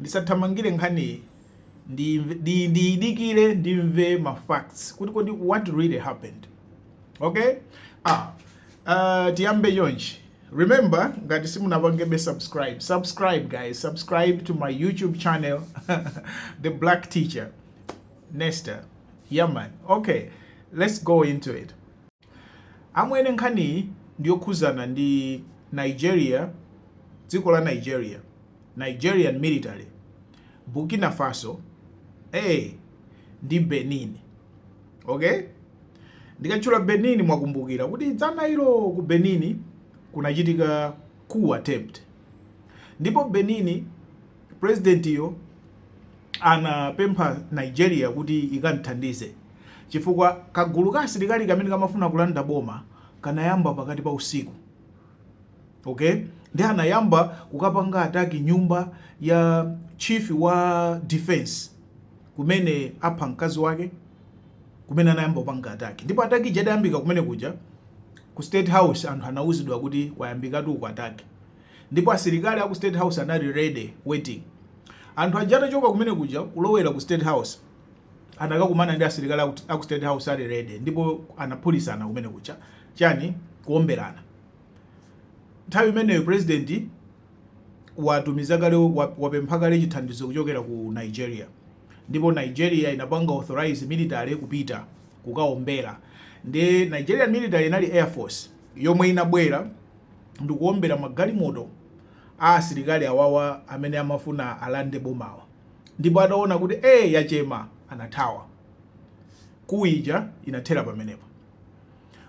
ndisathamangire nkhaniyi ndiyidikire ndimve ma facts kuti kodi what really happened okay ah uh, tiyambe chonchi remember ngati simunapangebe subscribe subscribe guys subscribe to my youtube channel the black teacher Nesta yeah man, okay let's go into it Amwene nkhaniyi ndiyokhuzana ndi Nigeria dziko la Nigeria Nigerian military Burkina Faso ee ndi Benin ok ndikatchula Benin mwakumbukira kuti dzana ilo ku Benin kunachitika coup attempt ndipo Benin Pulezidentiyo anapempha Nigeria kuti ikam'thandize chifukwa kagulu ka asilikali kamene kamafuna kulanda boma kanayamba pakati pa usiku. Okay? Ndi anayamba kukapanga ataki nyumba ya chief wa defense kumene apha mkazi wake kumene anayamba kupanga ataki ndipo ataki ija idayambika kumene kuja ku state house anthu anauzidwa kuti kwayambikatu uku ataki Ndipo asilikali aku state house anali ready waiting. Anthu aja atachoka kumene kuja kulowera ku state house anakakumana ndi asilikali aku, aku state house ali ready ndipo anaphulisana kumene kuja chani kuomberana. Nthawi imeneyo president watumiza kale wapempha kale chithandizo kuchokera ku Nigeria ndipo Nigeria inapanga authorize military kupita kukaombera ndi Nigeria military inali air force yomwe inabwera ndikuombera magalimoto a asilikali awawa amene amafuna alande bomawa ndipo ataona kuti ee yachema anathawa. Coup ija inathera pamenepa.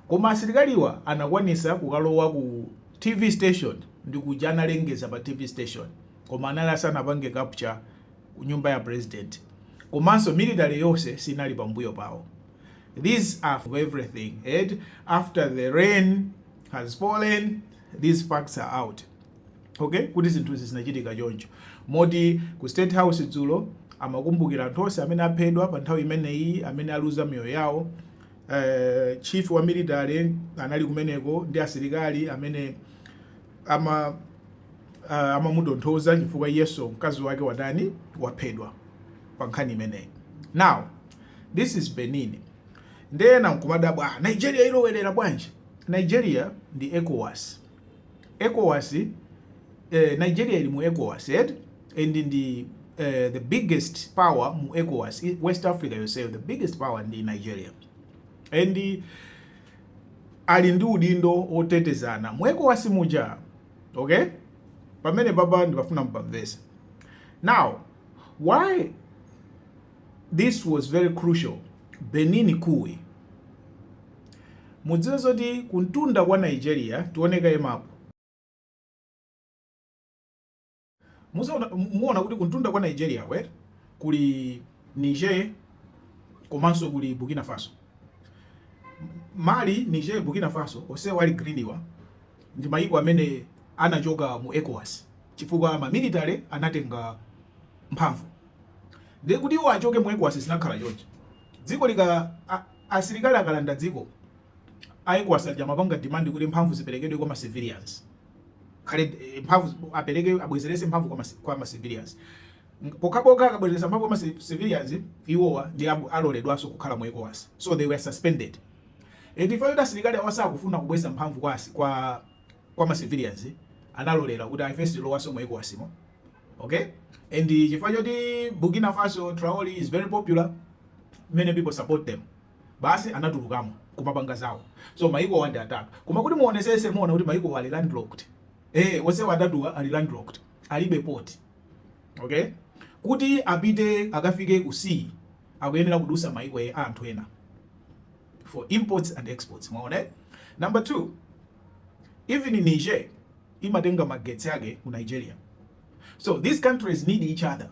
Koma asilikaliwa anakwanisa kukalowa ku TV station ndi kuja analengeza pa TV station koma anali asanapange capture ku nyumba ya president komanso military yonse sinali pambuyo pawo. This was everything. And after the rain has fallen these facts are out okay kuti zinthuzi zinachitika choncho moti ku state house dzulo amakumbukira anthu onse amene aphedwa pa nthawi imeneyi amene aluza miyoyo yawo uh, chief wa military anali kumeneko ndi asilikali amene ama uh, amamutonthoza chifukwa iyeso mkazi wake watani waphedwa pa nkhani imeneyi now this is benin nde ena nkumadabwa nigeria ilowerera bwanji Nigeria ndi Ecowas Ecowas eh Nigeria ili mu Ecowas eti and ndi eh, the biggest power mu Ecowas West Africa yoseyo the biggest power ndi Nigeria and ali ndi udindo otetezana mu Ecowas muja okay pamene baba ndibafuna mpamvesa now why this was very crucial Benin kui Mudziwe zoti kumtunda kwa Nigeria, tione kaye mapu. Muona kuti kumtunda kwa Nigeria eh kuli Niger komanso kuli Burkina Faso. Mali, Niger, Burkina Faso onsewa ali greeniwa ndi mayiko amene anachoka mu ECOWAS chifukwa ma military anatenga mphamvu. Ndiye kuti iwo achoke mu ECOWAS zinakhala choncho. Dziko lika- asilikali akalanda dziko a Ecowas aja amapanga demand kuti mphamvu ziperekedwe kwa ma civilians khale eh, mphamvu apereke abwezerese mphamvu kwa ma, kwa ma civilians pokhapokha akabwezeresa mphamvu kwa ma civilians iwowa ndi aloledwanso kukhala mu Ecowas so they were suspended and chifukwa choti asilikali awa sakufuna kubweza mphamvu kwa kwa kwa ma civilians analolera kuti ai ife sitilowaso mu Ecowas mo okay and chifukwa choti burkina faso traore is very popular many people support them basi anatulukamo kumapanga zawo so maikowa ndi atatu koma kuti muonesese muona kuti maikowa ali landlocked eh onsewa atatuwa ali landlocked alibe port okay kuti apite akafike ku sea akuyenera kudusa maiko a anthu ena for imports and exports mwaona eh? number two even in niger imatenga magetsi ake ku Nigeria so these countries need each other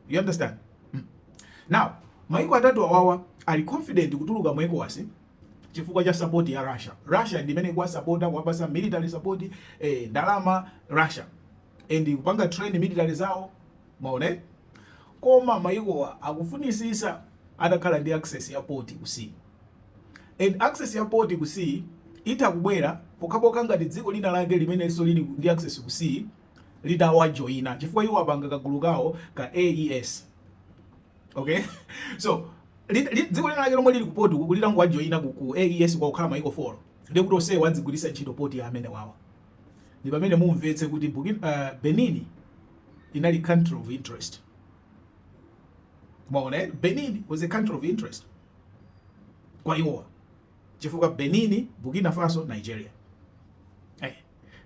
you understand hmm. now maiko atatu awawa ali confident kutuluka mu ECOWAS chifukwa cha support ya Russia. Russia ndi imene ikuwasapota kuwapasa military support eh, ndalama Russia and kupanga train military zawo mwaona koma maikowa akufunisisa atakhala ndi access ya port ku sea And access ya port ku sea itha kubwera pokhapokha ngati dziko lina lake limenenso lili ndi access ku sea litawajoyina chifukwa iwo apanga kagulu kawo ka AES okay so dziko lina lake lomwe lili ku port litangowajoyina ku, ku AES kwawoko kukhala maiko 4 ndiye kuti onsewo adzigwiritsa ntchito port ya amene awawa ndi pamene mumvetse kuti Burkina- ah, Benin inali country of interest mwaona eh? Benin was a country of interest kwa iwowa chifukwa Benin, Burkina Faso, Nigeria. Hey. Eh,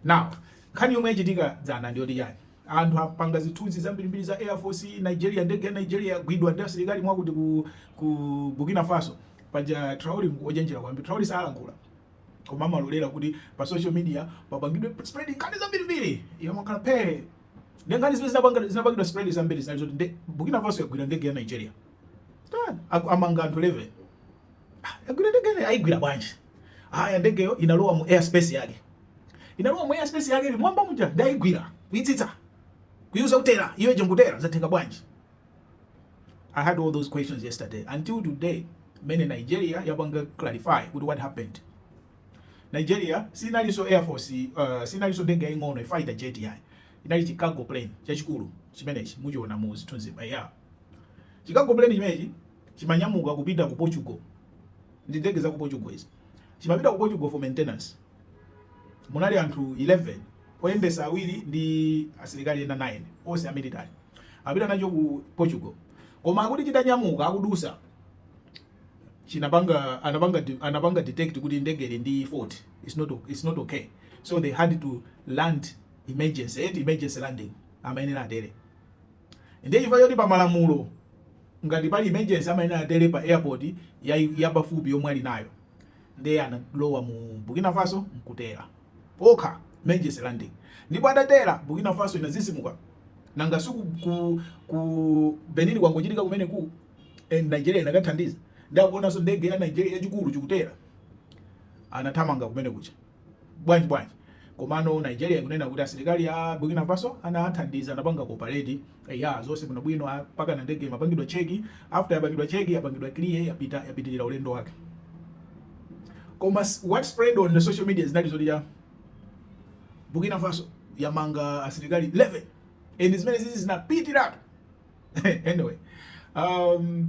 now, nkhani yomwe yachitika dzana ndi yoti yani? Anthu apanga zithunzi zambirimbiri za Air Force Nigeria, ndege ya Nigeria yagwidwa ndi asilikali mwakuti ku, ku Burkina Faso. Paja Traore ndi ochenjera kwambiri. Traore salankhula. Koma amalolera kuti pa social media papangidwe spread nkhani zambirimbiri. Iye amakhala phe. Nde nkhani zimene zinapangidwa spread zambiri zinali zoti Burkina Faso yagwira ndege ya Nigeria. Ah, aku- amanga anthu 11 Ah, agwira ndege ya Nigeria ayigwira bwanji aya ndegeyo inalowa mu airspace yake inalowa mu airspace yake ili mwamba muja ndayigwira kuitsitsa kuiuza kutera iyo ije nkutera zatenga bwanji I had all those questions yesterday until today mene Nigeria yapanga clarify kuti what happened Nigeria sinalinso air force uh, sinalinso ndege yaying'ono fighter jet yayi inali chi cargo plane chachikulu chimenechi muchiona mu zithunzi apa ya Chi cargo plane chimenechi chimanyamuka kupita ku Portugal ndi ndege za ku Portugal izi chimapita ku Portugal for maintenance. Munali anthu 11 oyendesa awiri ndi asilikali ena 9 onse a military apita nacho ku Portugal, koma akuti chitanyamuka akudutsa chinapanga anapanga anapanga detect kuti ndege ili ndi fault, it's not it's not okay, so they had to land emergency, emergency landing amayenera atere Ndiye chifukwa choti pa malamulo ngati pali emergency amayenera atere pa airport yapafupi yomwe ali nayo, ndiye analowa mu Burkina Faso n'kutera okha emergency landing. Ndipo atatera, Burkina Faso inadzidzimuka. Nanga si ku ku Benin kwangochitika kumeneku? And Nigeria inakathandiza. Ndiye akuonanso ndege ya Nigeria yachikulu chikutera, anathamanga kumene kuja. Bwanji bwanji komano Nigeria ikunena kuti asilikali a Burkina Faso anathandiza anapanga cooperate eya zonse bwino bwino apakana ndege imapangidwa check after yapangidwa check yapangidwa clear yapita yapitirira ulendo wake koma what spread on the social media zinali zoti ya Burkina Faso yamanga asilikali 11 and zimene zizi zinapitiratu anyway um,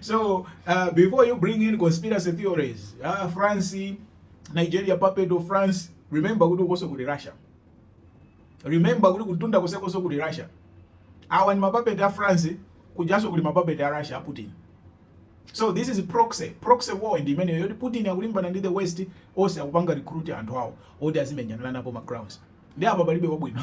so uh, before you bring in conspiracy theories uh, france nigeria puppet of france remember kuti ukoso kuli russia remember kuti kutunda kusekoso kuli russia awa ni mapuppet a france kujaso kuli mapuppet a russia putin so this is proxy proxy war ndi imeneyo yoti putin akulimbana ndi the west onse akupanga recruit anthu awo oti azimenyanana napo ma grounds ndi apa palibe wabwino